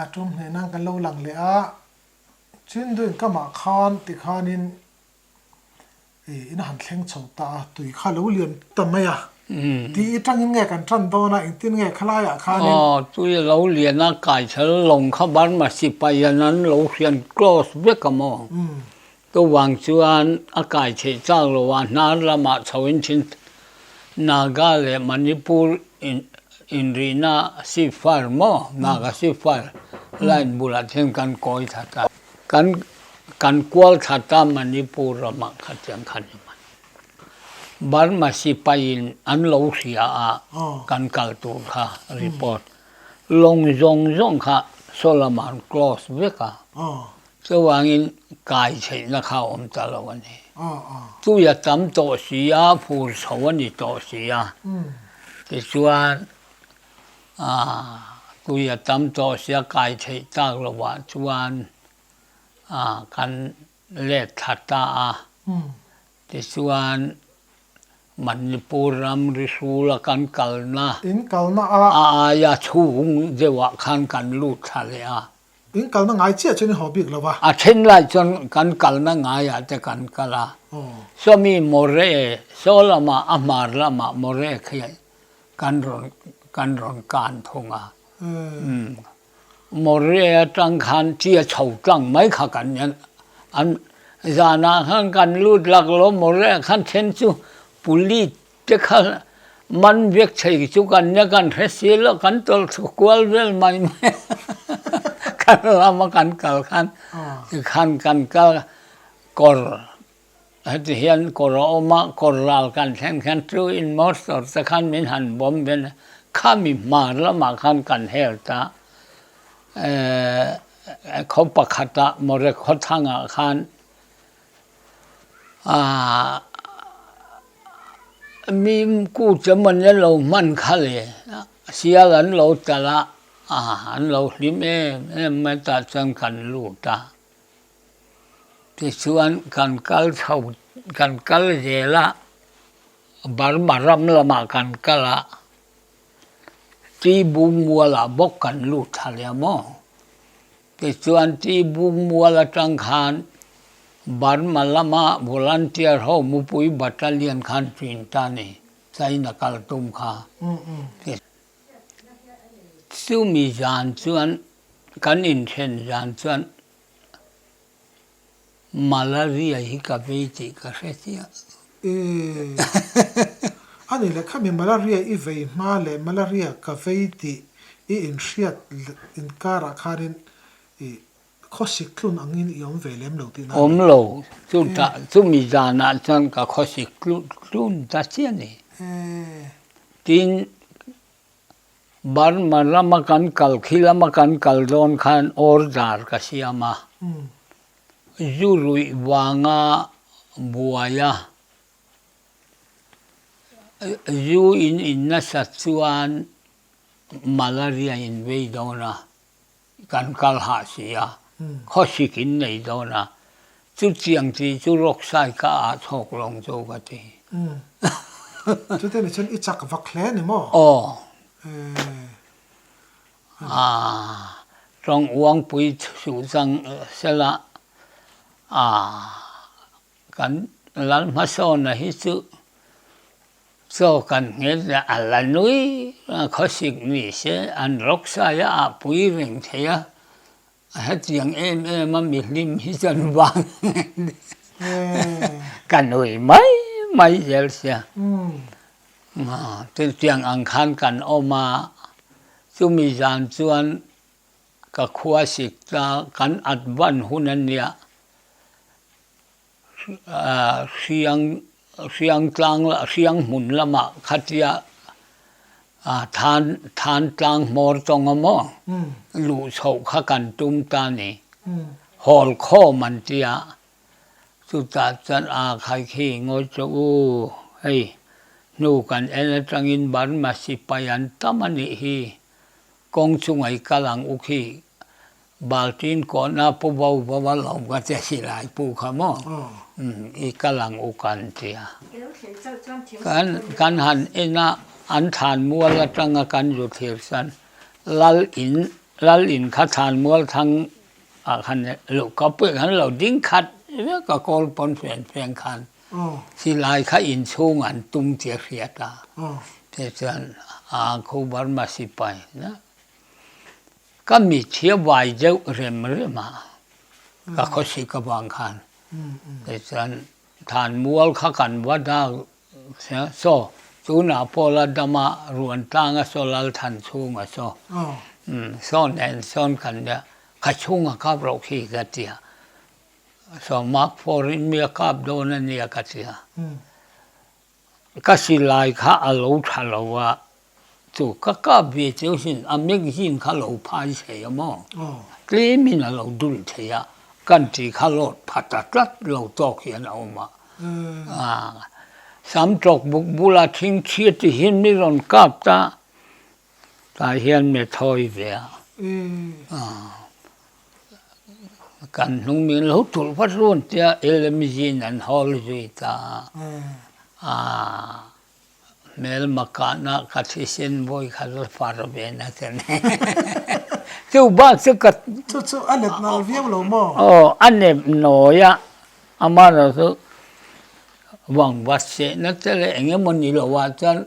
A ṭum hneh nan kan lo lang leh a, Chindu in kamah khan ti khanin ih in han thleng chho ta a, tui kha lo liam ta mai a ti i ṭangin nge kan ṭan dawn a, engtin nge khalaiah khanin. Aw, tui a lo lian a, Kaichel lawng kha Burma sipai-a'n an lo hrian close vek a maw? Ka vang chuan a kai theih chak lo a, hnar lamah chho in thin Naga leh Manipur in inrihna ceasefire maw, Naga ceasefire line bulah thil kan kawi that a, kan kan kual that a Manipur ramah kha tiang kha ni hman. Burma sipai in an lo hria a kan kal tur kha report lawng zawng zawng kha Solomon close vek a, Chuvangin kai theihna kha awm ta lo a ni. Tui a tam tawh si a, fur chho a ni tawh si a, tichuan tui a tam tawh si a, kai theih tak lovah chuan kan let thla ta a, tichuan Manipur ram risula kan kalna a aia chhung deuhah khan kan lut thla leh a. In kalna ngai chiah chuan in haw bik lo va. A then lai chuan kan kalna ngaiah te kan kal a. Swami Moree, saw lamah a hmar lamah Moree khian kan rawn kan rawn kan thung a. Moree atang khan tia chho tlang mai kha kan en an zanah khan kan lut lak lo, Moree khan then chu Police Te khan man biak chei chu kan nia kan hre si lo kan tawlh tha kual vel mai mai kan lam a kan kal khan tikhan kan kal kawr heti hian kawr a awm a kawr lal kan thlen khan chu in motor te khan min han bawm ve a kha mi hmar lamah khan kan hel ta khaw pakhat ah mawre khawthang ah khan Aah mim kute mawni an lo hman kha le sial an lo tal a, aah an lo hlim em em mai tah chuan kan lut a, tichuan kan kal chho kan kal zel a, Burma ram lamah kan kal a, T Bungmuala bawk kan lut tha leh a maw. Tichuan ti buk mual atang khan Burma lama volunteer ho mupui battalion khan chin ta ni, China kal tum kha. Chumi zan chuan kan inthlen zan chuan. Malaria hi ka vei tih ka hre chiah. Eeh. Ani leh kha mi malaria i vei hma leh malaria ka vei tih i inhriat inkarah khanin i khawsik tlun angin i awm ve lem lo tihna a ni. Awm lo. Chutah chumi zanah chuan ka khawsik tlun ta chiah a ni. Eeh. Tin. Burma lam a kan kal khi lam a kan kal dawn khan order ka siam a, zu luih vanga buai a, zu in in nasat chuan malaria in vei dawn a, kan kal hah si a, khawsik in nei dawn a, chu chiang chi chu ruksai ka ah chhawk lawng chu ka ti. Chute ni chuan i chak vak hle ni maw? Aw. Aaa, tawng uangpui suh chang sela, aaa. Kan Lalhmasawn a hi chu chaw kan nghel leh a la nui a khawsik ni se an rawksai a ah pui reng thei a a hetiang em em a mi hlim hi chuan vang ka nui mai mai zel sia chutiang ang khan kan awm a chumi zan chuan ka khua sik ta kan at van hun a nia. Sianghmun lama khatia Thantlang Hmawrtawng a maw luh chhoh kha kan tum ta ni Hawlkhawm an ti a chutah chuan a khai khi ngawi che u hei hnu kan en atangin Burma sipai an tam anih hi Kawng chu ngaih kal ang u khi, Baltin kawhna pu vo vo a lo va che si lai pu kha maw? I kal ang u kan ti a. Kan kan han en a, an thanmual atanga kan zu thlir chuan lal in lal in kha thanmual thang ah khan luh ka pui kan lo ding khat vek a kawl pawn fian fian khan. Hi lai kha inchhung an tum tia hriat a, te chuan aa kho Burma sipai na ka mitthia vai deuh rem rem a, ka khawsik avang khan te chuan than mual kha kan va dak sia saw tunah Paula dama Ruantanga saw Lalthan chhunga saw saw nen sawn kan nia ka chhunga kap rauh khi ka tia Sawmak phawr in mi a kap dawn a nia ka ti a, ka silai kha a lo tha lo a, chu ka kap ve chiu sin a magazine kha lo phai thei a maw, tlem in a lo dul thei a, kan ti kha lawt phat a tlat lo tawk hian a awm a, sam tawk buk bula thingthi ti hi mi rawn kap ta Tlai hian mi thawi ve a, kan hnung min lo tulh vat luôn tia LMG in an hawl zui ta a, hmel makah na ka thisen vawi kha la far ve na ta ni, chu bak chu ka, chu chu a let nal viau lo maw? Aw a nep nawi a, amah lo chu, Vangvatsehna te leh eng emaw ni lo ah chuan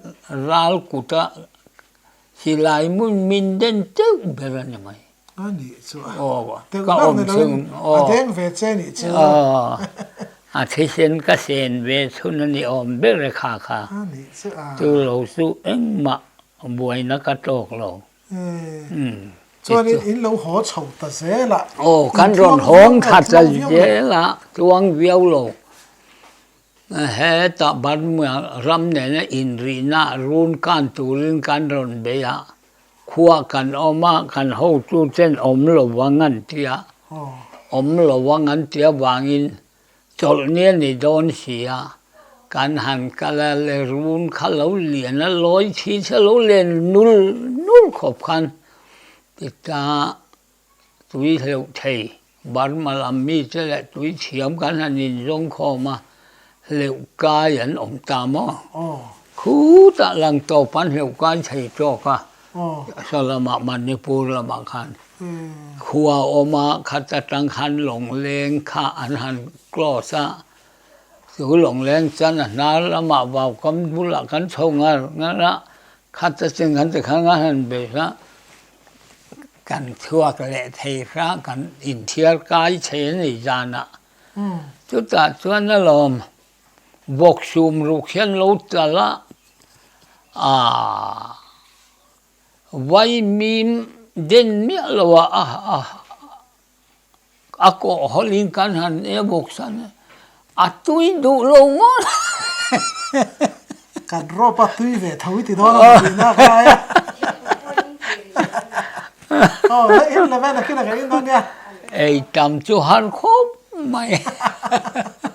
ral kut a silai mun min den teuh ber a ni mai. A nih chu a. Aw ka awm chhung aw. A deng ve che nih chu. Aw a thisen ka sen ve chhun a ni awm ber e kha kha. A nih chu a. Chu lo chu engmah buaina ka tawk lo. Chuanin in lo haw chho ta zel a. Aw, kan rawn hawng tha ta zel a, tluang viau lo. Heta Burma ram nena inrihna a run kan turin kan rawn bei a, khua kan awm a, kan hotu ten awm lo vang an ti a. Awm lo vang an ti avangin. Chawlh nia ni dawn sia, kan han kal a le run kha lo lian a lawi thin se lo len nul nul khawp khan ti ta tui hleuh thei Burma lam mi te leh tui thiam kan han in zawng khawm a hleuh kai an awm ta maw khutah Langtawpan hleuh kai thei tawk a. Assam lamah Manipur lamah khan khua awma khat atang khan lawngleng kha an han close a, chu lawngleng chuan a hnar lamah vaukamn bulah kan chho ngar ngar a, khat atin kan tikhan ngai han be hla, kan chhuak leh thei hra kan inthiar kai chhe a nih zanah chutah chuan alawm Vaksum ruk hian lo tlal a, aah. Vai mim den miah lo a a kawh hawlh in kan han e bawk sa nia, a tui duh lo ngawt heh. Kan rawp a tui ve tho i ti dawn a mut inah ka ai a. Aw la in la vel a khin a ka in dawn nia. Ei tam chu har khawp mai.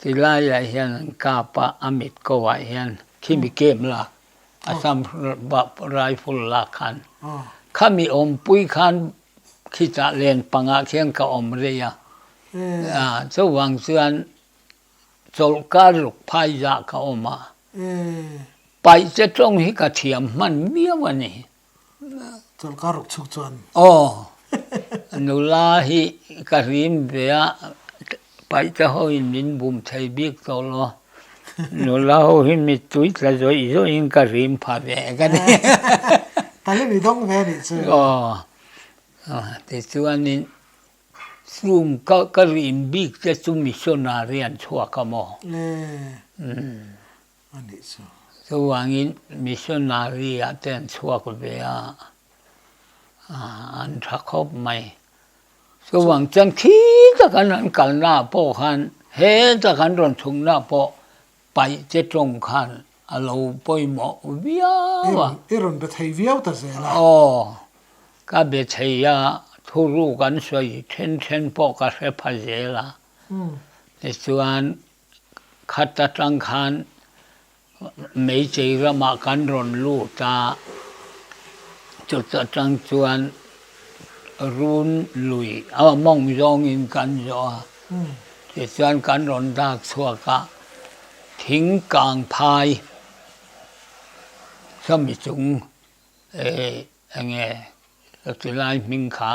Ti laiah hian an kap a, a mit kohah hian khimi kem lak, assam rifle lak khan, khami awmpui khan khichah len pangah khian ka awm rei a, chuvang chuan chawlh kar ruk phai zah ka awm a, paih che tawng hi ka thiam hman miau a ni. Chawlhka ruk chhuk chuan. Aw, nula hi ka rim ve a, paihte ho in min bum thei bik tawh law, nula ho hi mittui tla zawih zawih in ka rim pha ve ka ni. Pali ni dawng ve a nih chu. Aw, tichuanin chung ka ka rim bik te chu mission ah rian chhuak a maw? Eee. Umm. a nih chu. Chuvangin missionary-a te an chhuak ve a, an tha khawp mai. Chuvang chuan khi takan an kalnaah pawh khan he tak an rawn chhungnaah pawh paih te tawng khan a lo pawimawh viau a. I rawn be thei viau ta zel a. Aw, ka be thei a, thuruk an sawi then then pawh ka hre pha zel a. Tichuan. Khat atang khan Meichei ramah kan rawn lut a, chuta tang chuan Run lui aw mawng zawngin kan zawh a, tichuan kan rawn dak chhuak a, thing kang phai chami chung enge chu lai hming kha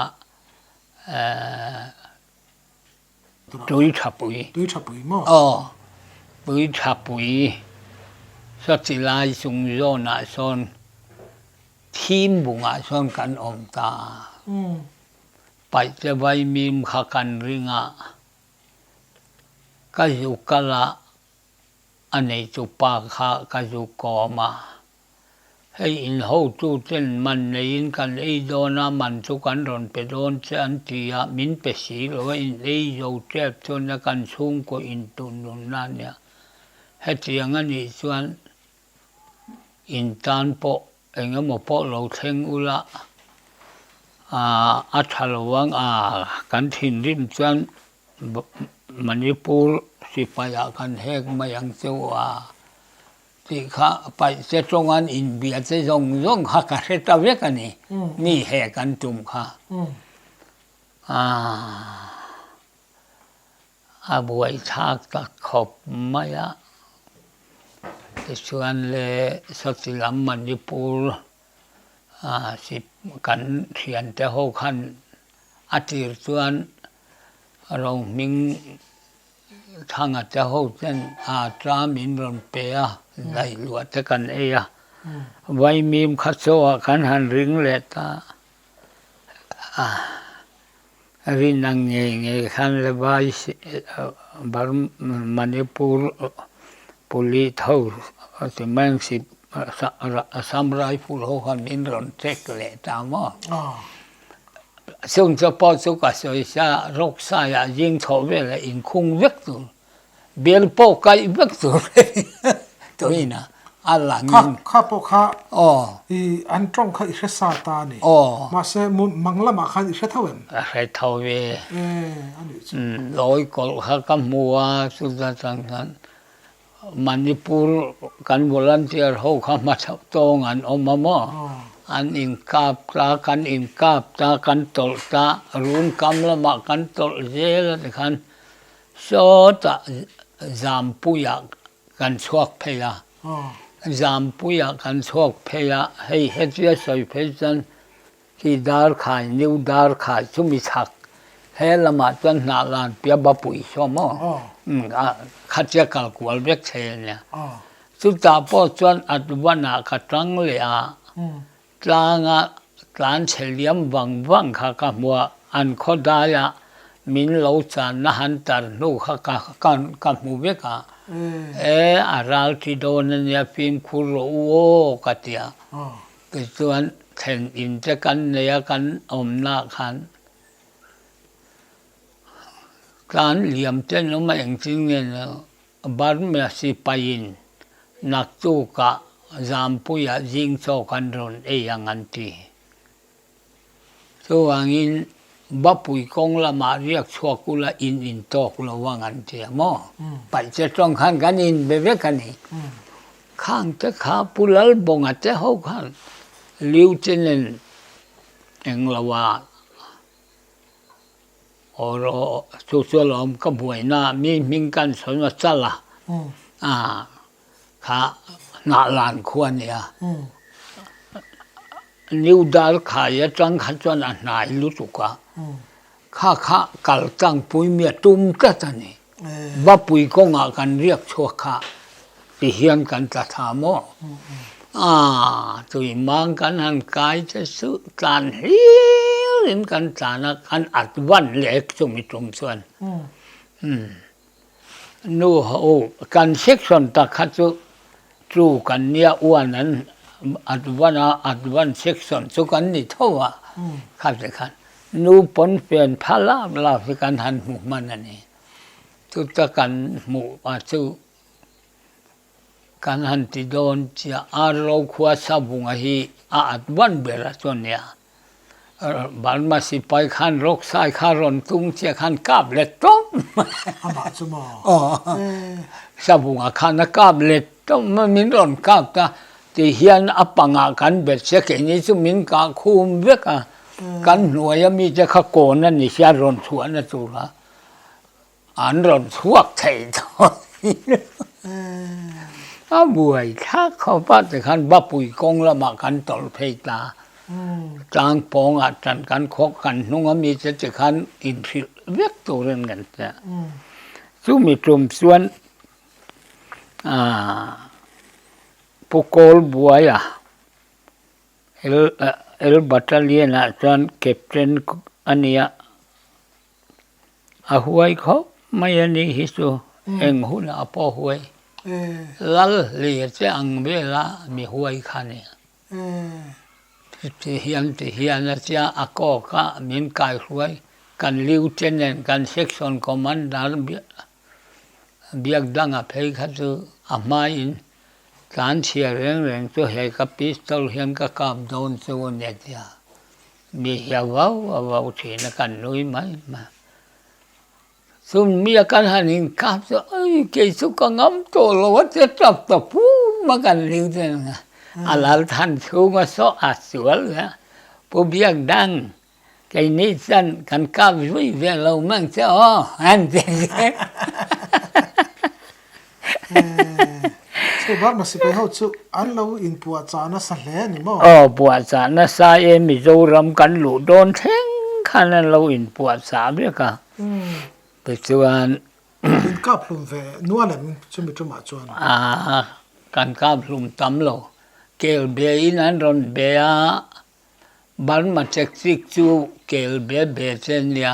Tui tha pui. Tui tha pui maw? Aw. Tui tha pui. Sawtilai chung zawnah sawn thim bungah sawn kan awm ta. Paih che vai mim kha kan ring a, ka zu kal a, a nei chu pa kha ka zu kawm a. Hei in hotu ten man nei in kan ei dawn a, man chu kan rawn pe dawn che an ti a, min pe si lo a in ei zo tep chuan nia kan chhungkaw in tun nun na nia hetiang a nih chuan in tan pawh eng emaw pawh lo thleng ula aah a tha lo ang a, kan thinrim chuan manipur sipai ah kan hek mai ang cheu a. Tih kha paih te tawngan inbia te zawng zawng kha ka hre ta vek a ni, mi he kan tum kha. A buaithlak ta khawp mai a, tichuan le sawti lam Manipur kan thiante ho khan a tir chuan rohming, Thangate ho chuan aa tlam in rawn pe a, daih luah te kan ei a, vaimim kha chaw ah kan han ring leh ta, rin ang nge nge khan le vai manipur police ho ti mai ang assam rifle ho han in rawn check leh ta maw. Chung chu pawh chu ka sawi sa, Rawksaiah zing chhoh vela inkhung vek tur, bel pawh kaih vek tur tuihin a a lang in. Kha, kha pawh kha, aw, i an tawng kha i hre sa ta a ni, aw, mahse mun mang lamah khan i hre tho em? Ka hre tho e, e, a nih chu, umm, lawi kawlh kha ka hmu a, chu ta chuan khan, Manipur kan volunteer ho kha hmasa tawng an awm a maw an inkap ta kan inkap ta kan tawlh ta run kam lama kan tawlh zel a ti khan sawta zampuia kan chhuak phei a zampuia kan chhuak phei a hei hetia sawi phei chuan Hi darkhai new darkhai chu mi chhak he lamah chuan hnah lan pia ba pui saw maw khatia kal kual vek che ania chutah pawh chuan at van ah ka tang leh a tlang a tlan chhe liam vang vang kha ka hmu a an khaw dai ah min lo chan na han tar hnu kha ka ka hmu vek a e a ral ti dawn ania fimkhur rawh u aw ka ti a. Tichuan, thlen in te kan nei a, kan awmnaah khan tlan liam te an awm a, engtin nge ni loh, Burma sipain naktuk ah, Zampui ah zing chawk an rawn ei ang an ti. Chuvangin Bapui kawng lamah riak chhuak ula in in tawk lo ang an ti a maw? Paih che tawng khan kan in ve vek a ni. Khang te kha Pu Lalbawnga te ho khan Lieutenant englo a awr chu chu alawm ka hmuaina mi hming kan sawn a chal a. kha Hnahlan khua a nia, New Dalkhai atang kha chuan a hnai lutuk a, kha kha kal tlangpui mia tum tlat a ni, Bapui kawnga kan riak chhuak kha tihian kan tla tha maw, aah tui mang kan han kai che suh tlan hlir in kan tlan a, kan at van lek chumi tum chuan. Nu ho, kan section ta kha chu chu kan nia uan an advan a, advan section chu kan ni tho a, kha te khan nu pawnfen pha lak lak hi kan han hmu hman a ni. Chuta kan hmuh ah chu. Kan han ti dawn chia Arlo khua savunga hi a at vat ber a chuan nia Burma sipai khan Roksai kha rawn tung chiah khan kap let tawp mai amah chu maw aw savunga khan a kap let tawp mai min rawn kap ta tihian a pangah kan bet sia keini chu min kah khum vek a kan hnuaia mite kha kawn a ni sia rawn chhuahna tura. An rawn chhuak thei dawn hi a buai thlak khaw pate khan Bapui kawng lamah kan tawlh phei ta, tlang pawngah tan kan khawk kan hnunga mite te khan inhrilh vek turin kan tia, chumi tlum chuan Pu Kawlbuaia L L Battalion-ah chuan Captain a nia. a huai khawp mai a nih hi chu eng hunah a pawh huai lal leh che ang bela mi huai kha a ni chutih hian ti hian a chiah a kawk a min kai hruai kan lieutenant kan section commander Biakdanga phei kha chu a hmain tlan chhia reng reng chu hei ka pistol hian ka kap dawn chu a ni a ti a. Mi hi a vau a vau thin a kan nui mai hma chun mi a kal han in kap chu ai kei chu ka ngam tawh lo a che tap ta phut mai kan ring chu ang a a lal than chhung a saw a sual leh a pu biakdang kei ni chuan kan kap zui ve lo mang che aw han ti a Eeh, chhehbak Masipai ho chu an lo inpuah chah nasa hle a ni maw? Aw, puah chah nasa e, Mizoram kan luh dawn thleng khan an lo inpuah chah vek a, tichuan. Inkaphlum ve nual em chumi tumah chuan? Aa, kan kaphlum tam lo, kel be in an rawn be a, Burma Tactic chu kel be be che a nia,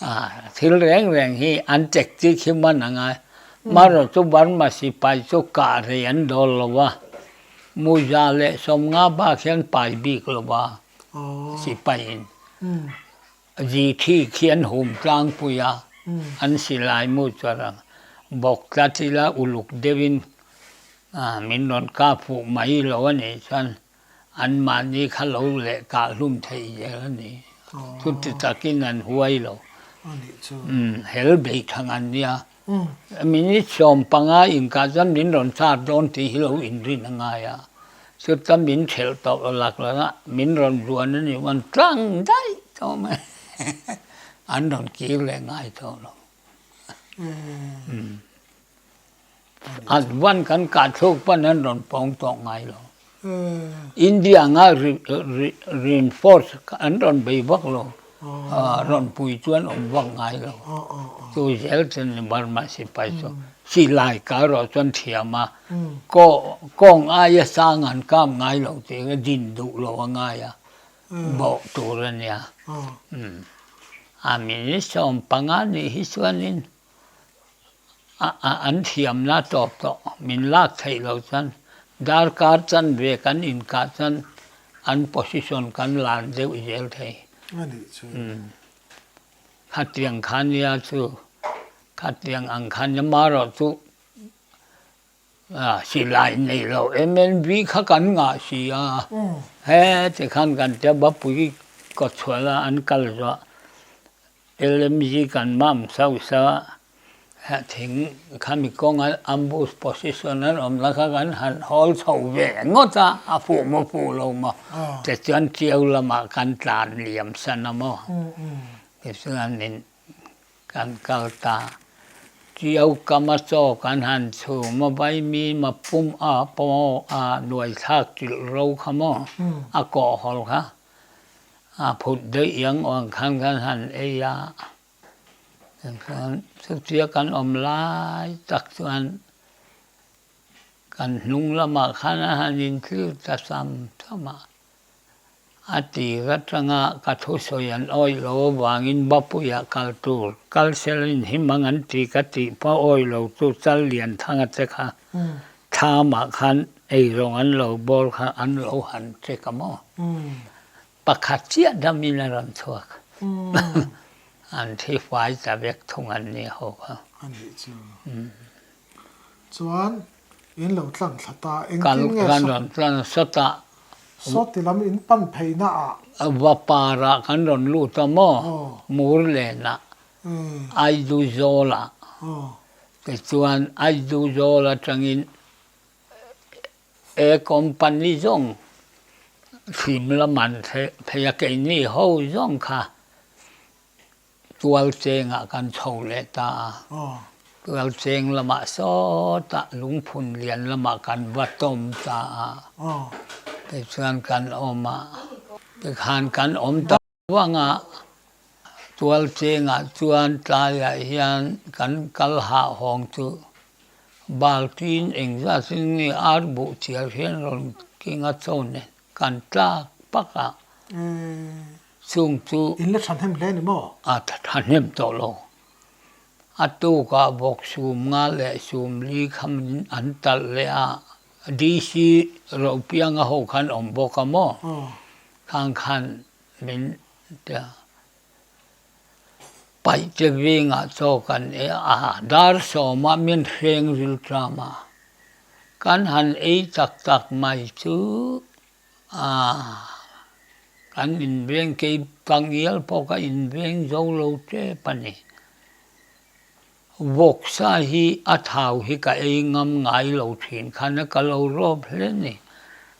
A thil reng reng hi an check chik hi hman ang a, hmarawh chu Burma sipai chu kah rei an dawl lo va, Muza leh Sawmnga bak hian pai bik lo va, sipai in Ji thik hi an hum tlang pui a, an silai mu chu a rang bawk tlat ila uluk deuh in min rawn kap fuh mai lo a nih chuan, An mahni kha lo leh kah hlum theih zel a ni. Chuti takin an huai lo. Hel bei tha ngan nia. Minute sawm panga inkah chuan min rawn char dawn tih hi lo inrin a ngai a. Chuta min khelh tawh lo lak lo a, min rawn luan a nih chuan tlang daih tawh mai. An rawn kir leh ngai tawh lo. Advan kan kah thluk pan an rawn pawng tawh ngai lo. India anga reinforce an rawn bei vak lo, rawn pui chuan awm vak ngai lo. Chu zel chu ni Burma sipai chu khi lai kal rawh chuan thiam a, kawng aia sang an kap ngai lo tih ka din duh lo a ngai a, bawh tur a nia. Army ni sawm panga nih hi chuanin. an thiamna tawp tawh min lak theih lo chuan darkar chan ve kan inkah chuan an position kan lan deuh zel thei khatiang khania chu khatiang ang khania marawh chu Silai nei lo em en bik kha kan ngah si a, he ti khan kan ti a, Bapui Kawchhuala an kal zawh a, LMG kan mam sau sau a, heh thing khami kawnga ambush position an awm na kha kan han hawl chho ve ngawt a, a fuh maw fuh lo maw tichuan cheu lamah kan tlan liam san a maw tichuan in. Kan kal ta. Tui aukam a chawk an han chhung mawbai mi ma pum a paw a nuai thlak chilh ro kha maw a kawh hawl kha a phut daih ang awn khan kan han ei a tichuan chutiang a kan awm lai tak chuan kan hnung lamah khan a han inthlirh ta sam sam a. a tih aṭanga ka thusawi an awih loh avangin va puiah a kal tur kal sel in hi mang an ti ka tih pawh awih lo chu chal lian thanga che kha tham ah khan eirawng an lo bawr kha an lo han che ka maw pakhat chiah dam in a rawn chhuak an thi fai ta vek thung an nia ho kha. Chuan in lo tlan thla ta. Engtin nge kan rawn tlan sa ta. Sawti lam in pan phei na ah. Va par ah kan rawn lut a maw? Mur len ah. Aiduzawl ah. Ti chuan Aiduzawl atang in he company zawng thim lam an theih phei a keini ho zawng kha. Tualchengah kan chho leh ta a, Tualcheng lamah sawta lungphun lian lamah kan va tawm ta a, kei chuan kan awm a, tikhan kan awm ta vanga Tualchengah chuan tlaiah hian kan kal hahawng chu Baltin engzat zing nge arbuh chiar hian rawn keng a chaw nen kan tlak pakah. chhung chu. In la thahnem hle ni maw? A thahnem tawh lo. A tukah bawk sum nga leh sum li kham in an talh leh a, DC Ropianga ho khan awm bawk a maw? Khang khan min tia. Paih che veng ah chaw kan ei a, a dar sawm a min hreng riltram a, kan han ei tak tak mai chu Aah kan inveng kei pangial pawh ka inveng zo lo tep a ni. Vawksa hi a thau hi ka ei ngam ngai lo thin khan a ka lo rawp hle ni.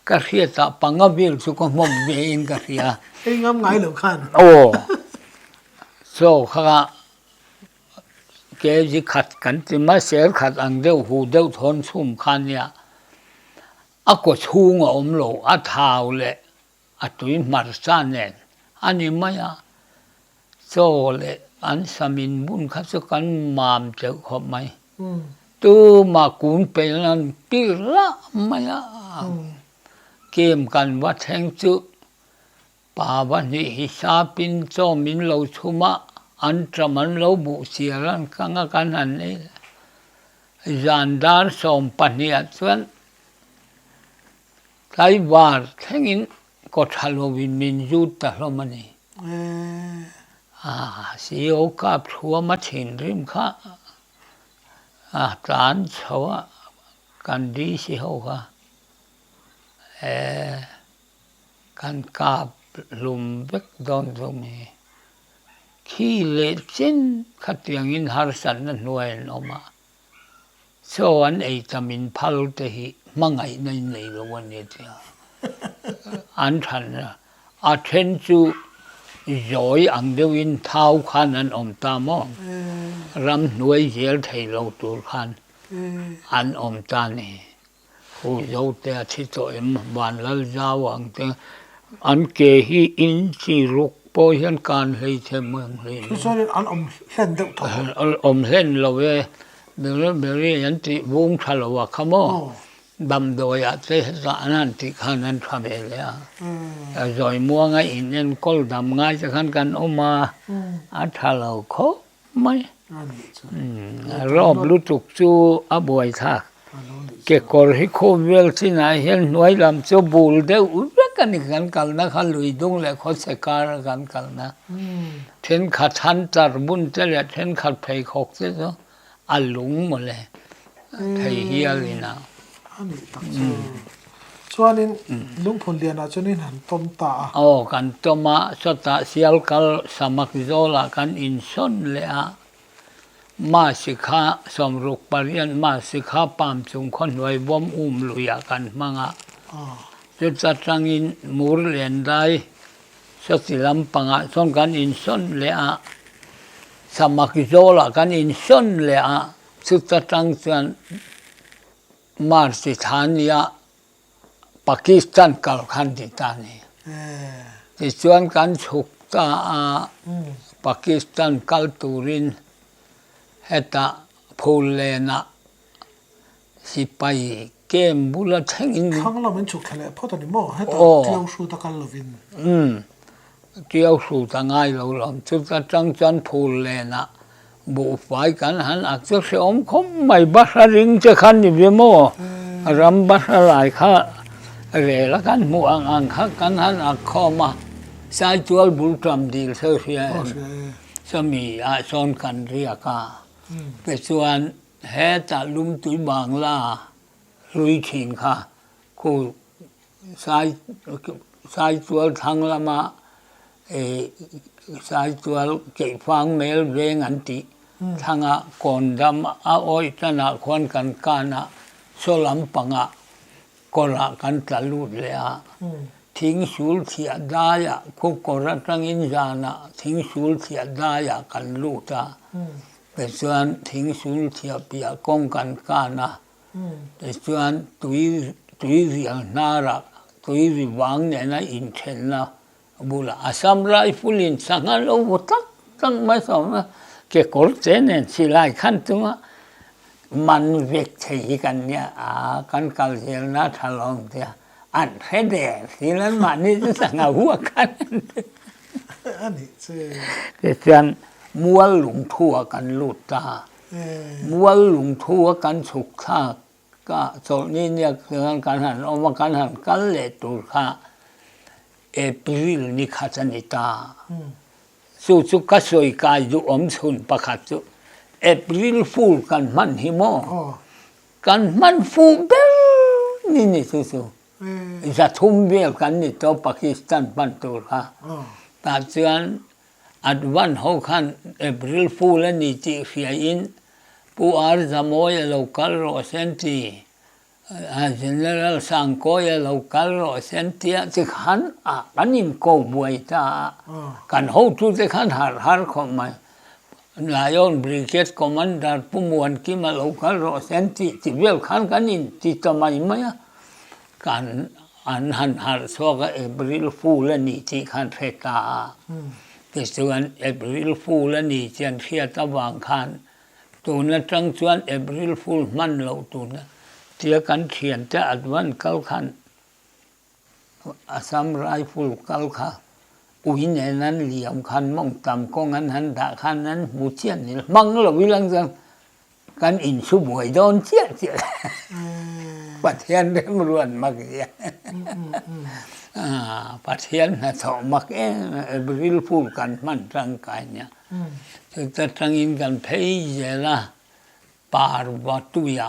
Ka hriatah panga vel chu ka hnawp ve in ka hria. Ei ngam ngai lo khan. Aw chaw kha kg khat kan ti mai, sêr khat ang deuh, hu deuh thawn chhum khan nia. A kawchhung a awm lo a thau leh a tui hmarcha nen a ni mai a, chaw leh an sam inbun kha chu kan mam teuh khawp mai. Tuma kun peihna an tir lah mai a, kem kan va thleng chu Pa pahnih hi sa pin chawm in lo chhum a, an ṭam an lo buh chiar an kang a kan han nei le. Zan dar sawm pahnih ah chuan tlaivar thleng in kawtha lo in min zut ta hlawm a ni. Ceo kap thuam a thin rim kha a tlan chho a kan DC ho kha. Kan kap hlum vek dawn chu mi khi leh chin khatiang in harsat na hnuai an awm a, chaw an ei ta min phal te hi hmangaih na in nei loh a ni tia an than a, a then chu zawi ang deuh in thau khan an awm ta maw ram hnuai zel thei lo tur khan an awm ta ni. Huzo te a thi tawh em, van lal zau ang te an ke hi in chi ruk pawh hian kan hleithem ang hle mai. Tichuan in an awm hlen deuh tho ang. An awm hlen lo e, Beryl Beryl an tih vung tha lo a kha maw? Damdawiah te hetah an han tih khan an tha ve leh a. Zawimuanga in enkawl dam ngai te khan kan awm a, a tha lo khawp. mai rawp lutuk chu a buai tha kekawr hi khum vel chin ah hian hnuai lam chu bul deuh vek a ni kan kal na kha lui dung leh khaw se kar a kan kal na thenkhat han char bun che leh thenkhat pheikhawk te chu a lung maw le. Thei hial in ah. A nih tak chu. Chuan in Lungphun Lian ah chuan in han tawm ta a. Aw kan tawm a, sawtah sial kal samak zawl ah kan in sawn leh a. Mahse kha Sawmruk parian mahse kha Pam chung khaw hnuai bawm um lui ah kan hmang a. Chu ta tang in Mur Lian dai sawti lampang ah chuan kan in sawn leh a. Samak zawl ah kan in sawn leh a. Chuta tang chuan March-i tha nia Pakistan kal khan tih ta ni. Tichuan kan chhuk ta a, Pakistan kal turin heta phul lena sipai camp bula thlengin, Thlang lo min chhuk thla leh phawt a ni maw, heta tilo hruta kal lovin? Tiauhruta ngai lo lo chuta tang chuan phur lena buhfai kan han ak chu hreawm khawp mai, Batra ring te khan ni ve maw? Ram Batra lai kha rel a kan hmuh ang ang kha kan han ak khawm a, sai tual bul ṭam dil se hria em? Chumi ah sawn kan riak a, kei chuan hetah Lumtui Bangla hlui thin kha khu Sai Saitual thlang lama Saitual keihfang mel veng an tih thlanga kawn dam a awih tanah khuan kan kan a, saw lam panga kawrah kan tla lut leh a, thing sul thiah daia khawkawr atangin zana thing sul thiah daia kan lut a, tichuan thing sul thiah piah kawng kan kan a. Tichuan tui tui vial hnarah tui ri vang nena inthenna bulah Assam Rifle in sangha lo vut tak tak mai sawm a, kekawr che nen silai khan chunga man vek thei hi kan nia aa kan kal zel na tha lawm tia an hre der si lan mahni chu sangha vuah khan an ti a nih che. Tichuan mual lungthu ah kan lut ta. Mual lungthu a kan chhuk thlak ka chawlh ni ni ak chuan kan han awm a, kan han kal leh tur kha April ni khat a ni ta. Chu chu ka sawi kai duhawm chhun pakhat chu April fool kan hman hi maw? Kan hman fu ber ni ni chu chu. Zathum vel kan ni tawh Pakistan hman tur kha. Tah chuan Advan ho khan April Fool a ni tih hriain Pu Arzamoy a lo kal rawh sen ti a, General Sangkoi a lo kal rawh sen ti a, ti khan kan inko buai ta a, kan hotute khan harh harh khawp mai. Lion Brigade Commander Pu Muan Kim a lo kal rawh hian tih ti vel khan kan in ti ta mai mai a, kan an han harh chhuak a April Fool a ni tih khan hre ta a, tichuan April Fool a ni tih an hriat avang khan tun atang chuan April Fool hman loh tuna tia kan thiante advan kal khan Assam Rifle kal kha ui nen an liam khan mawngtam kawng an han dah khan an hmu chiah ni lo, hmang lo i lang chuan kan insu buai dawn chiah chiah lo Pathian remruat mak zia Pathian hna chawh mak em em April Fool kan hman tangkai nia chuta tangin kan phei zel a Parvatuia.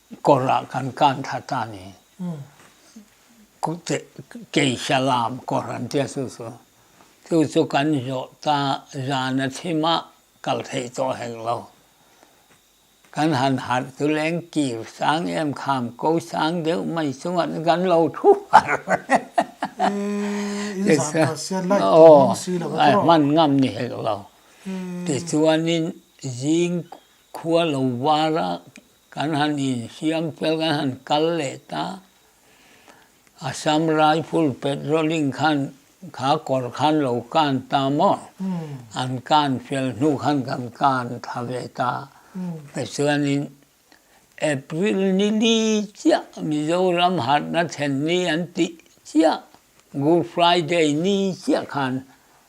Kawrah kan kan tha ta ni. Kute kei hria lam kawr an tia chu chu. Chu chu kan zawh ta zan a thim a kal theih tawh hek lo. Kan han harh tu leng kir sang em kham ko sang deuh mai chunga te kan lo thu harh ti chuan aw a hman ngam ni hek lo. Tichuanin zing khua lo vara Kan han insiam fel kan han kal leh ta. Assam Rifle patrolling khan kha kawr khan lo kan ta maw? An kan fel hnu khan kan kan tha ve ta. Tichuanin April ni li chiah Mizoram harhna thlen ni an tih chiah Good Friday ni chiah khan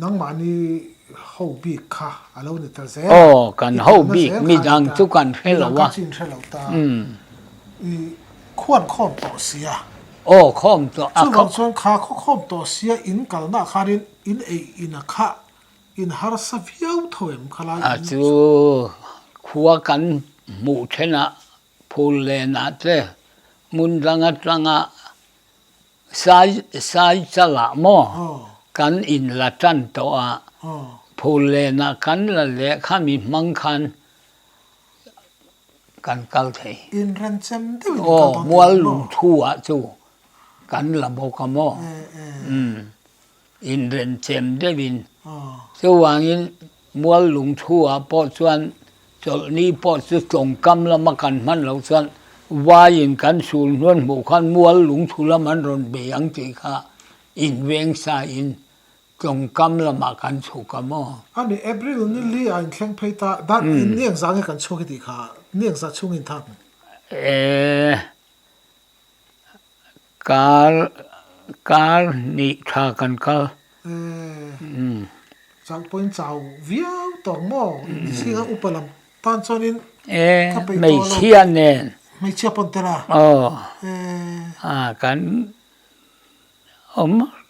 Nangmah ni ho bik kha a lo ni ta zel a. Aw, kan ho bik midang chu kan hre lo a. Midang kha chin hre lo ta. I khuan khawm tawh sia. Aw, khawm tawh a. Chuvang chuan kha khaw khawm tawh sia in kalna khanin in ei ina kha in harsa viau tho em kha lai. A chu khua kan hmuh then ah Phul lenah che, ngun dang atanga sai sai chalah maw kan in la tan tawh a, phul lenah kan la leh kha mi hmang khan kan kal thei. Inremchem deuh in kal bawk thei maw? Aw, mual lungthu ah chu kan la bawk a maw. inremchem deuhin chuvangin mual lung thua pawh chuan chawlhni pawh chu chawngkam lama kan hman loh chuan vaiin kan sul hnuan hmuh khan mual lung thu lam an rawn be ang tih kha inveng sain chawngkam lamah kan chhuk a maw. A ni, April ni li a inthleng phei ta, dan in ni ang zah nge kan chhuak i tih kha ni ang zah chhungin tha hmu. Eee. Kal kal nih tha kan kal. Eeh chauh pawhin chau viau tawh maw inti si kha upa lam tan chuanin ka peih tawh lo hmeichhia nen hmeichhia pawn tela eeh a kan awm.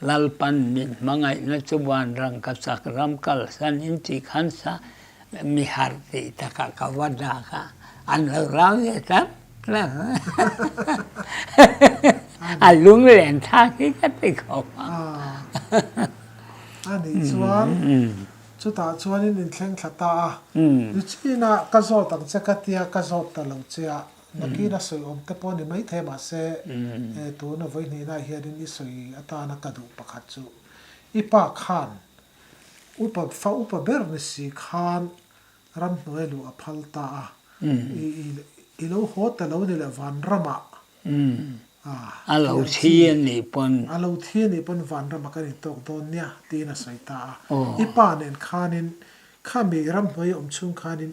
Lalpan min hmangaihna chu vanrang ka chak ram kalsan in tih khan sa mi harh tih takah ka va dak a, an lo rau ve tlat tlat a lung len thak hi ka ti kho a. A nih chuan chutah chuan in inthleng thla ta a, ru chin a ka zawt ang che ka tia ka zawt ta lo che a. Nakin a sawiawm te pawh ni maithei mahse, he tuna vawihnihnah hianin i sawi atana ka duh pakhat chu, i pa khan upa fa upa ber ni si khan ramhnuai luh a phal ta a, i i lo haw ta lo ni le Vanramah a lo thi a nih pawn, a lo thi a nih pawn Vanramah kan in tawk dawn nia tiin a sawi ta a, i pa nen khanin kha mi ramhnuai awm chhung khanin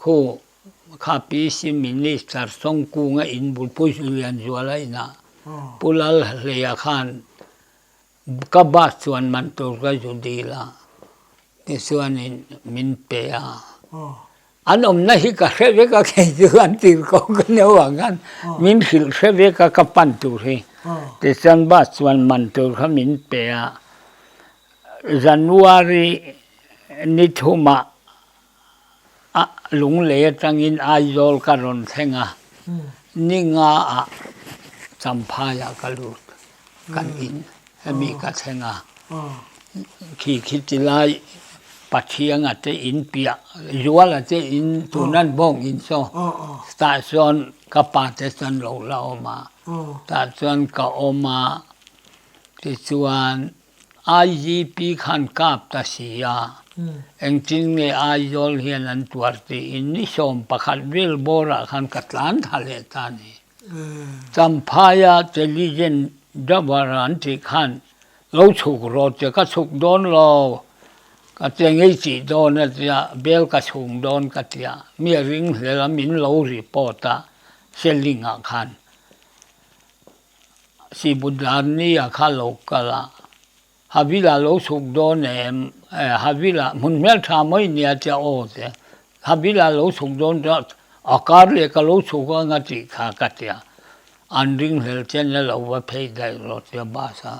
Khu kha pi sim minister Sawngkunga inbul Pu Lianzuala inah Pu Lal Hleia khan ka bus chuan man tur ka zu dil a, tichuanin min pe a. An awmna hi ka hre vek a kei chu an tir ko ka neuh ang khan min hrilh hre vek a ka pan tur hi. Tichuan bus chuan man tur kha min pe a, January ni thumah A lung lei atangin Aizawl ka rawn thleng a, ni nga ah Champhai ah ka lut, kan in hemi ka thleng a. Khi khi ti lai Pathiang a te in piah, Zual a te in tun an bawng in saw tah chuan ka pa te chuan lo la awm a, tah chuan ka awm a, tichuan. IGP khan kap ta si a, engtin nge Aizawl hian an tuar tiin ni sawm pakhat vel bawrah khan ka tlan thla leh ta ni. Champhaia Teligen Jawara an tih khan lo chhuk rawh che, ka chhuk dawn law ka che ngei tih dawn a tia bel ka chhung dawn ka tia mi a ring hlel a min lo report a Selling ah khan. Sibudlarnia kha lo kal a, Havila lo chhuk dawn em, eh Havila hmun hmel tha mai a nia tia aw tia, Havila lo chhuk dawn tia a kar leh ka lo chhuk anga tih kha ka tia, an ringhlel chian nia lo va phei daih rawh tia bus a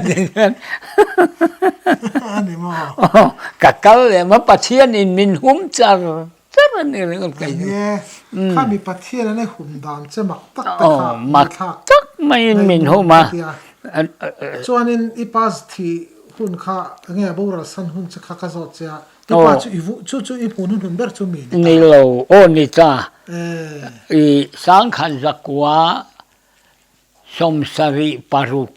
tikhian ka kal leh mai pathian in min hum char. Tlar a nih reng awk eng e, kha mi Pathianin a hun dan che mak tak te kha min thlak tak maiin min hum a. Chuanin i pa zthi hun kha enge a boral san hun che kha ka zawt che a, i pa chu i vuh chu chu i hmun hun hun ber chu mi ni ta. Ni lo, aw ni ta. I Sangkhan zakua sawmsarih paruk.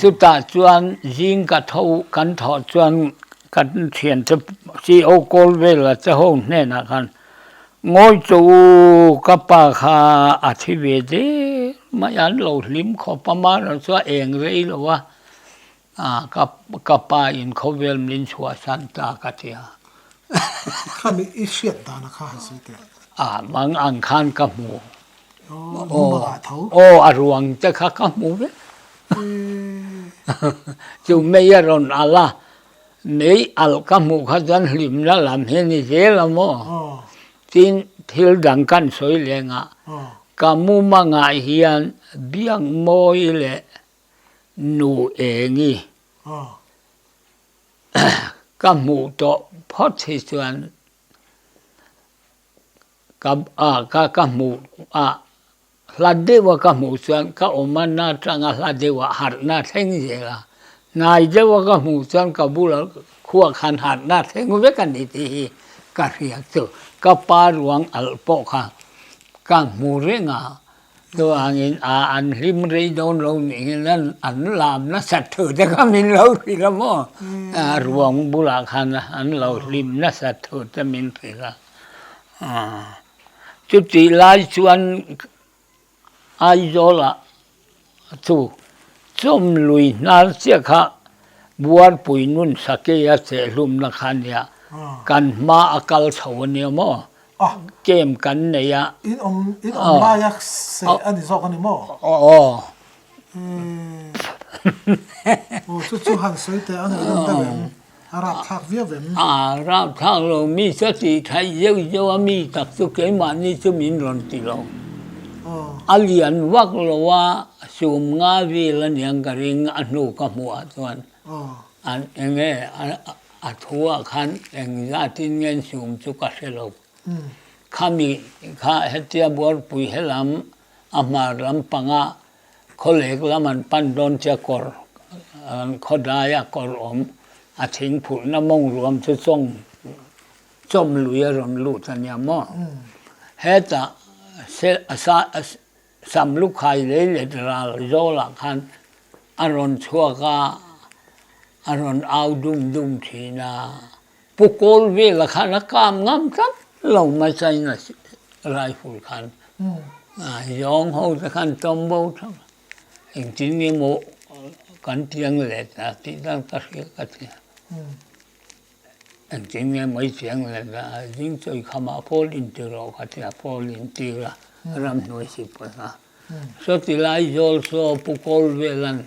Chutah chuan zingka tho kan thawh chuan kan thian te CEO kawl vela te ho hnenah khan, Ngawi cho u, ka pa kha a thi ve der mai, an lo hlim khawp a, mahra chu a eng rei lo a. A, ka, ka pa in khawvel min chhuahsan ta ka ti a. Khami i hriat dan a kha han sawi teh. A, mang ang khan ka hmu. Aw, nu mangah tho. Aw, a ruang te kha ka hmu vek. Chu mei a rawn alh a, mei alh ka hmuh kha chuan hlimna lam hi ni zel a maw? Tin, thil dang kan sawi lengah, ka mumangah hian biak mawi leh Nu Engi, ka hmuh tawh phawt hi chuan ka ka ka hmuh a hla deuh a ka hmuh chuan ka awmna atanga hla deuh a harhna a thleng zel a, hnai deuh a ka hmuh chuan ka bula khua khan harhna a thleng vek a ni tih hi ka hriat chu. Ka pa ruang alh pawh kha ka hmu reng a. Chuanin a an hlim rei dawn lo nih hian an an lam nasat thu te kha min lo hrilh a maw a ruang bulah khan an lo hlim nasat thu te min hrilh a aw chutih lai chuan Aizawla chu chawmlui hnar chiah kha Buarpuii Nunsakeia cheh hlumna kha nia kan hma a kal chho a nia maw Game kan nei a. In awm laia seh a ni zawk a ni maw? Aw. Emm. Aw chu chu han sawi teh a nei rawh deuh em? A rap thlak viau em? A rap thlak lo, mi chu a tihtheih zeuh zeuh a, mi tak chu keimahni chu min rawn ti lo. A lian vak lo a, sum nga vel a ni ang ka ring a hnuk a hmuh ah chuan. a. An enge a thua khan eng zatin nge an sum chu ka hre lo. Khami kha hetia Buarpui he lam a hmar lam panga khaw lek lam an pan dawn che kawr an khaw dai a kawr awm a chhing phurhna mawng ruam chu chawng chawm lui a rawn lut ania maw hetah se a sa a Sam Lukhai lei let ral zawlah khan a rawn chhuak a, a rawn au dum dum thin a, Pu Kawl velah khan a kam ngam tlat lo mai China rifle khan, zawng ho te khan tawm bo tho lo, engtin emaw kan tiang let a tih dan ka hria ka ti a. Kan ti nge mai chiang le la a zing chawi kha mah pawl in ti rawh ka ti a pawl in ti la ram hnuai si pawh hna so ti lai zawl so pu kawl vel an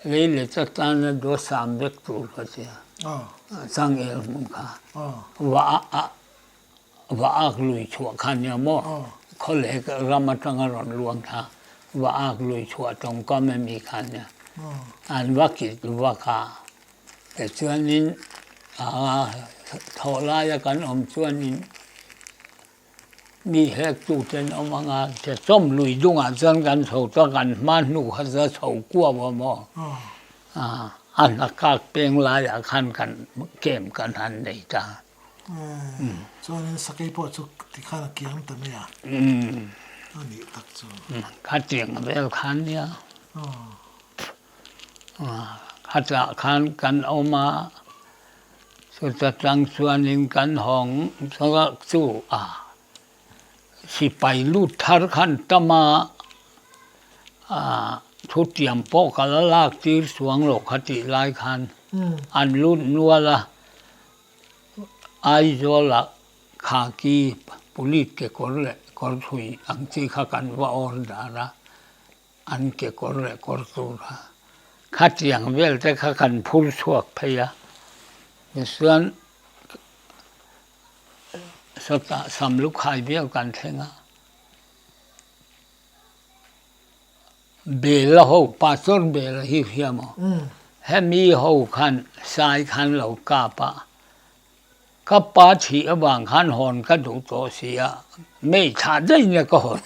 lei leh ta tan a daw sam vek tur ka ti a chang el hmun kha vah a a vah ak lui chhuah kha nia maw khaw leh ram atang a rawn luang tha vah ak lui chhuah tawng kam emi kha nia an va kit vak a Tichuanin aa thawh laia kan awm chuanin mi hektu ten awm anga che chawm lui dungah chuan kan chho chuan kan hma hnu kha za chho kuau a maw aa a hna kak peng laiah khan kan kem kan han nei ta chuanin sakei pawh chu tikhan a kiang ta mai a a nih tak chu ka tiang vel khan nia. Khatah khan kan awm a, chuta tang chuanin kan hawng zawk chu a sipai lut thar kha an tam a, ah thutiam pawh ka la lak tir chuang lo kha tih lai khan an lut nual a, Aizawlah khaki police kekawr leh kawr thui ang chi kha kan va order a. An kekawr leh kawr tura khatiang vel te kha kan phur chhuak phei a, tichuan sawtah sam lukhai biak kan thleng a. Bela ho, Pastor Bela hi hria maw? Hemi ho khan sai kha an lo kap a. Ka pa chhih avang khan hawn ka duh tawh si a, mei tha daih nia ka hawn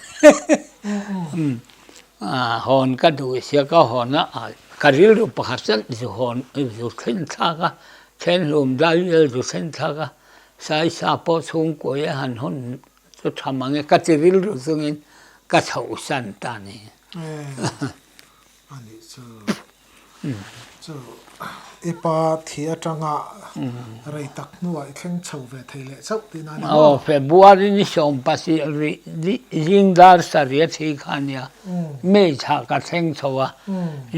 hawn ka duh sia ka hawn a ka rilru pakhat chan zu hawn zu thlenthlak a thenhlum dai vel zu thlenthlak a saisa pawh chhungkua a han hun chu tham ang e ka chi rilru chungin ka chhoh san ta nen. February ni sawm pahnih rih dih zingdar sarih a thi kha nia, May thla ka thleng chho a,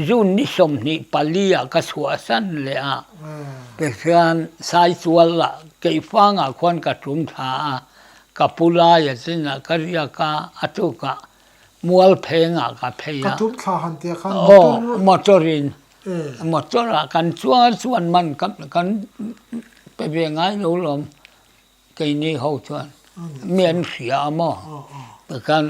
June ni sawmhnih pali ah ka chhuah san leh a, tikhian saitual lah keihfang ah khuan ka tum thla a, ka pu lai a chin ah ka riak a, a tukah. mual pheng ah ka phei a, ka tum thla han tia khan motor, motor in motor ah kan chuan chuan man kan pe ve ngai lo lawm kei ni ho chuan mi an hria a maw ta khan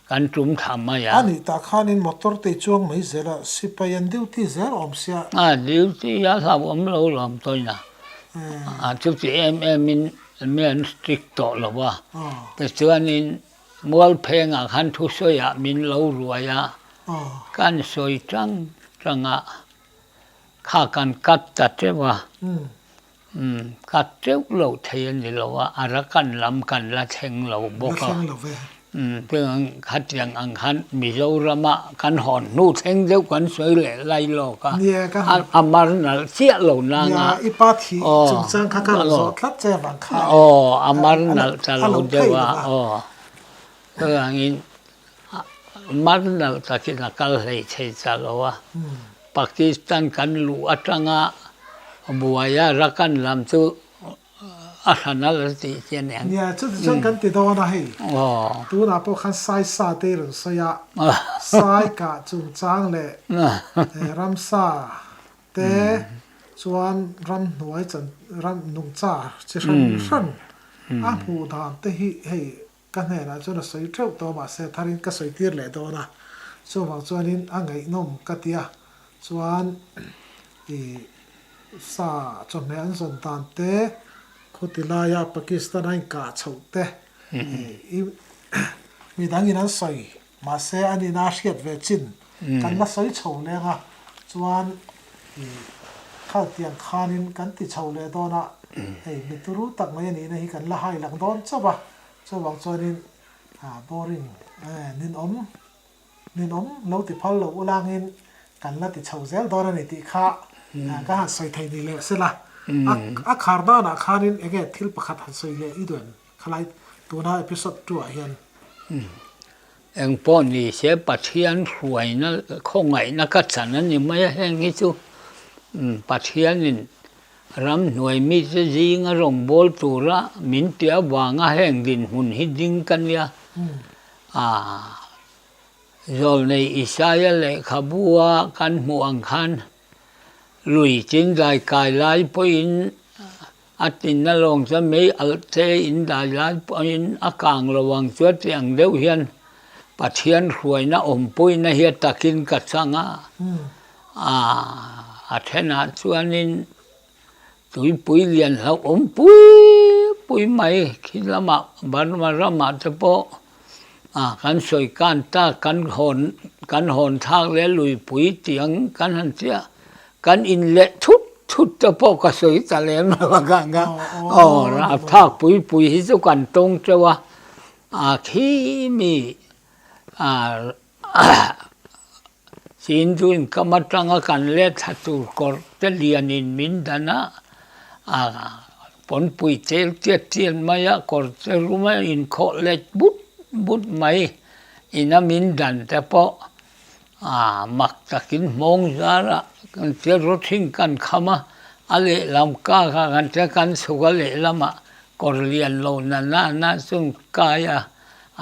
kan tum thla mai a, ani ta khan in motor te i chuang mai zel a, sipai an duty zel awm sia, a duty a hlauhawm lo lawm tawina a chuti em em in mi an strict tawh lo va tichuan in, Mualphengah khan thusawiah min lo ruai a, kan sawi chang changa kha kan cut ta teuh a, cut teuh lo thei a ni lo a, a rakan lam kan la thleng lo bawk a, chuan khatiang ang khan Mizorama kan hawn hnu thleng deuh kan sawi leh lai lawk a, a mar nalh chiah lo nanga, aw, a ni. kha a aww a mar nalh ta lo deuh a aww chutang in mar nalh tak in a kal hlei thei ta lo a pakistan kan luh a tang a buai a rakan lam chu a hla nalh a tih chian eng nia chu ti chuan kan ti dawn a hei aww tunah pawh khan sai sa te i rawn sawi a sai kah chungchang leh ramsa. te chuan ramhnuai chan ram nungcha chi hran hran a hmuh dan te hi hei ka hnenah chuan a sawi teuh tawh a mahse tharin ka sawi tir leh dawn a chuvang chuanin a ngaihnawm ka ti a chuan i sa chawhmeh an zawn dan te khuti laia Pakistan a inkah chhoh te i midangin an sawi. Mahse a nina a hriat ve chin, kan la sawi chho leng a, chuan i khal tiang khanin kan ti chho leh dawn a, hei mi turu tak mai a nihna hi kan la hai lang dawn chauh a, chuvang chuanin boring ninawm ninawm lo ti phal lo ulangin kan la ti chho zel dawn a ni tih kha ka han sawi thei ni leh se la, a khar danah khanin enge thil pakhat han sawi leh i duan? Khalai tuna episode two ah hian. Eng pawh ni se Pathian hruaina khawngaihna ka chan a ni mai a, heng hi chu Pathianin ram hnuai mi te zinga rawngbâwl tura min ti avanga heng dinhmun hi ding ka nia. Aaa, Zawlnei Isaiah lehkhabu a kan hmuh ang khan. Lui chin dai kai lai pawhin a tlinna lawng chuan mei alh che in dai lai pawhin a kang lo ang chuan tih ang deuh hian Pathian hruaina awm pawina hi takin ka chang a, a a then ah chuanin Tuipui lian hlauh awm pui pui mai khi lamah Burma ramah te pawh a kan sawi kan ta kan hawn kan hawn thak leh a luipui tih ang kan han tia kan in leh thut thut te pawh ka sawi ta lem lo bawk ang kha aw a thak pui pui hi chu kan tawng teuh a a khi mi a Chin chu inkam atang a kan let tha tur kawr te lian in min dan a, ah pawnpui chel chiat chiat mai a kawr te rum a in khawh let but but mai in a min dan te pawh ah mak tak in hmawng zar a kan che rawt hring kan kham a, a lehlam kak ah kan che kan chhuk a lehlam ah kawr lian lo nana na chuan kai a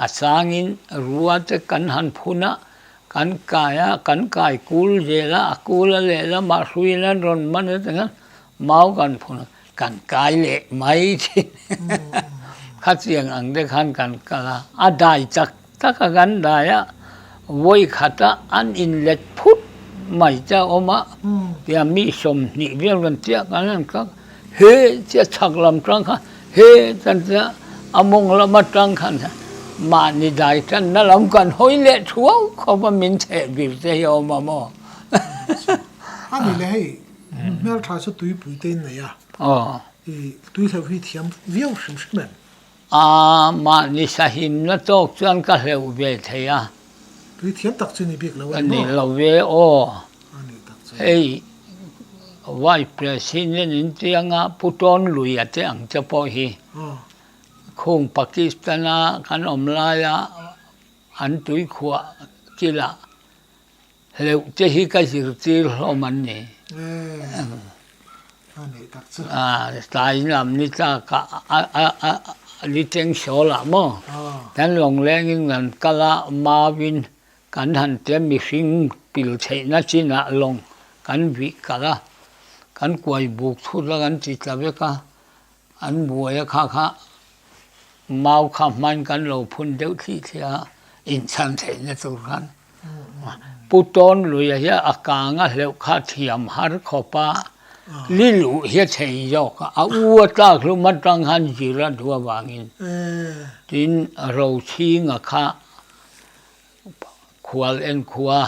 a sang in rua te kan han phun a, Kan kai a, kan kai kul zel a, a kul a lehlam ah hruiin an rawn man ata khan mau kan phun a, kan kai leh mai thin khachiang ang te khan kan kal a, a dai chak tak a kan dai a, vawi khat a an in let phut mai che a awm a, tia mi sawmhnih vel kan chiah khan an kal. He chiah chak lam tang kha he kan tia a mawng lam atang khan hian mahni dai tanna lam kan hawi leh thuau khawp a min chheh bil te hi a awm a maw. A ni le hei nu hmeltha chu tuipui te in nei a, i tuihlauh hi thiam viau hrim hrim em. A, mahni sahimna tawk chuan ka hleuh ve thei a. Tui thiam tak chu ni bik lo a ni maw? Ka nih lo ve aw. A nih tak chuan. Hei, Vice President in tianga Pu Tawn Lui a teh ang te pawh hi, khung Pakistan-a kan awm laia an tuikhuah kilah Hleuh te hi ka zirtir hlawm an ni. Tlai lam ni tlak ah ni teng sawl ah maw kan lawngleng in kan kal a, mau in kan han tia mihring pil theih na chin ah lawng kan vih kal a, kan kuai buk thut a kan ti ta vek a, An buaia kha kha mau kha hman kan lo phun deuh thlih thlih a, inchhan theihna tur khan Pu Tawn Luia hian a kanga hleuh kha thiam har khawp a, Lilu hi a chei zawk a, a u a tlak hlum atang khan zir a duh avangin tin a rochhinga kha khual en khua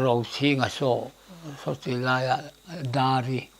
rochhinga saw saw ti laiah dar i.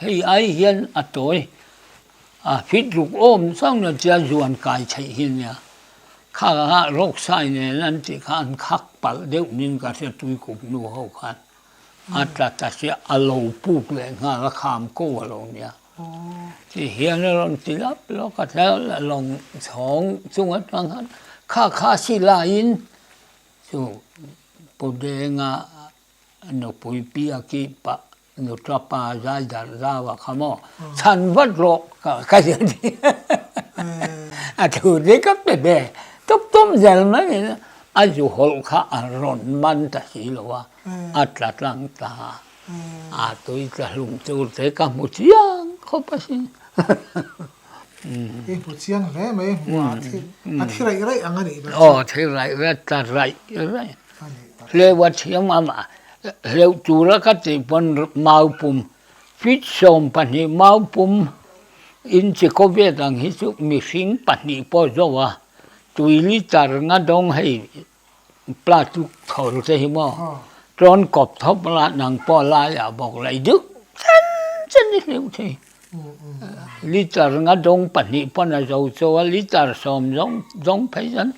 Hei ai hian a tawi a fit ruk awm chang lo chuan zuan kai theih hi nia khak a nghah rawk sai nen an tih kha an khak palh deuh nin ka hria tuikup nu ho khan a ta ta se a lo puk leh nghal a kham ko a lo nia tih hian a rawn ti lak lak a thleng a lawng chhawng chung atang khan kha kha silai in chu Pu Denga Nupui piaki pah nutra pa zai darh zau a kha maw chhan vat rawh ka ka zia ni a thu te ka pe be tum tum zel mai ni na a zu hawlh kha a rawn man ta si lo a a tla tlang ta a tui tla hlum tur te ka hmu chiang khawp a si. I hmu chiang hle mai hmu a thi a thi raih raih ang a nih bawk. Aw thi raih raih ta raih raih hleuha thiam ang a hleuh tura ka tih pawn mau pum fit sawm pahnih mau pum in chi kaw vet ang hi chu mihring pahnih pawh zo a tui litre nga dawng hei platuk thawr te hi maw tlâwn kawp thawp la nang pawh laiah bawk laih deuh chen chen i hleuh thei litre nga dawng pahnih pawn a zo chaw a litre sawm zawng zawng phei chuan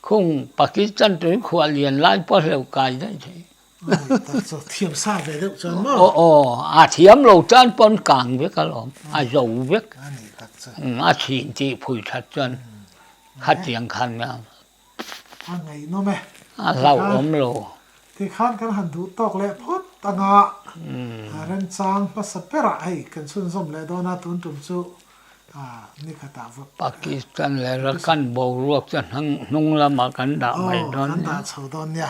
khung pakistan tuikhuah lian lai pawh a hleuh kai daih thei aw a thiam lo tan pawn kang vek a lawm a zo vek a chhin tih phui that chuan khatiang khan a. A ngeihnawm e. A hlauhawm lo. Tikhan kan han duh tawk leh phawt anga Remchang hmasa berah hei kan chhunzawm leh dawn a, tun tum chu nikhatah vawt. Pakistan leh Rakhine boruak chu a hnung lamah kan dah mai dawn nia. Aw, kan dah chho dawn nia.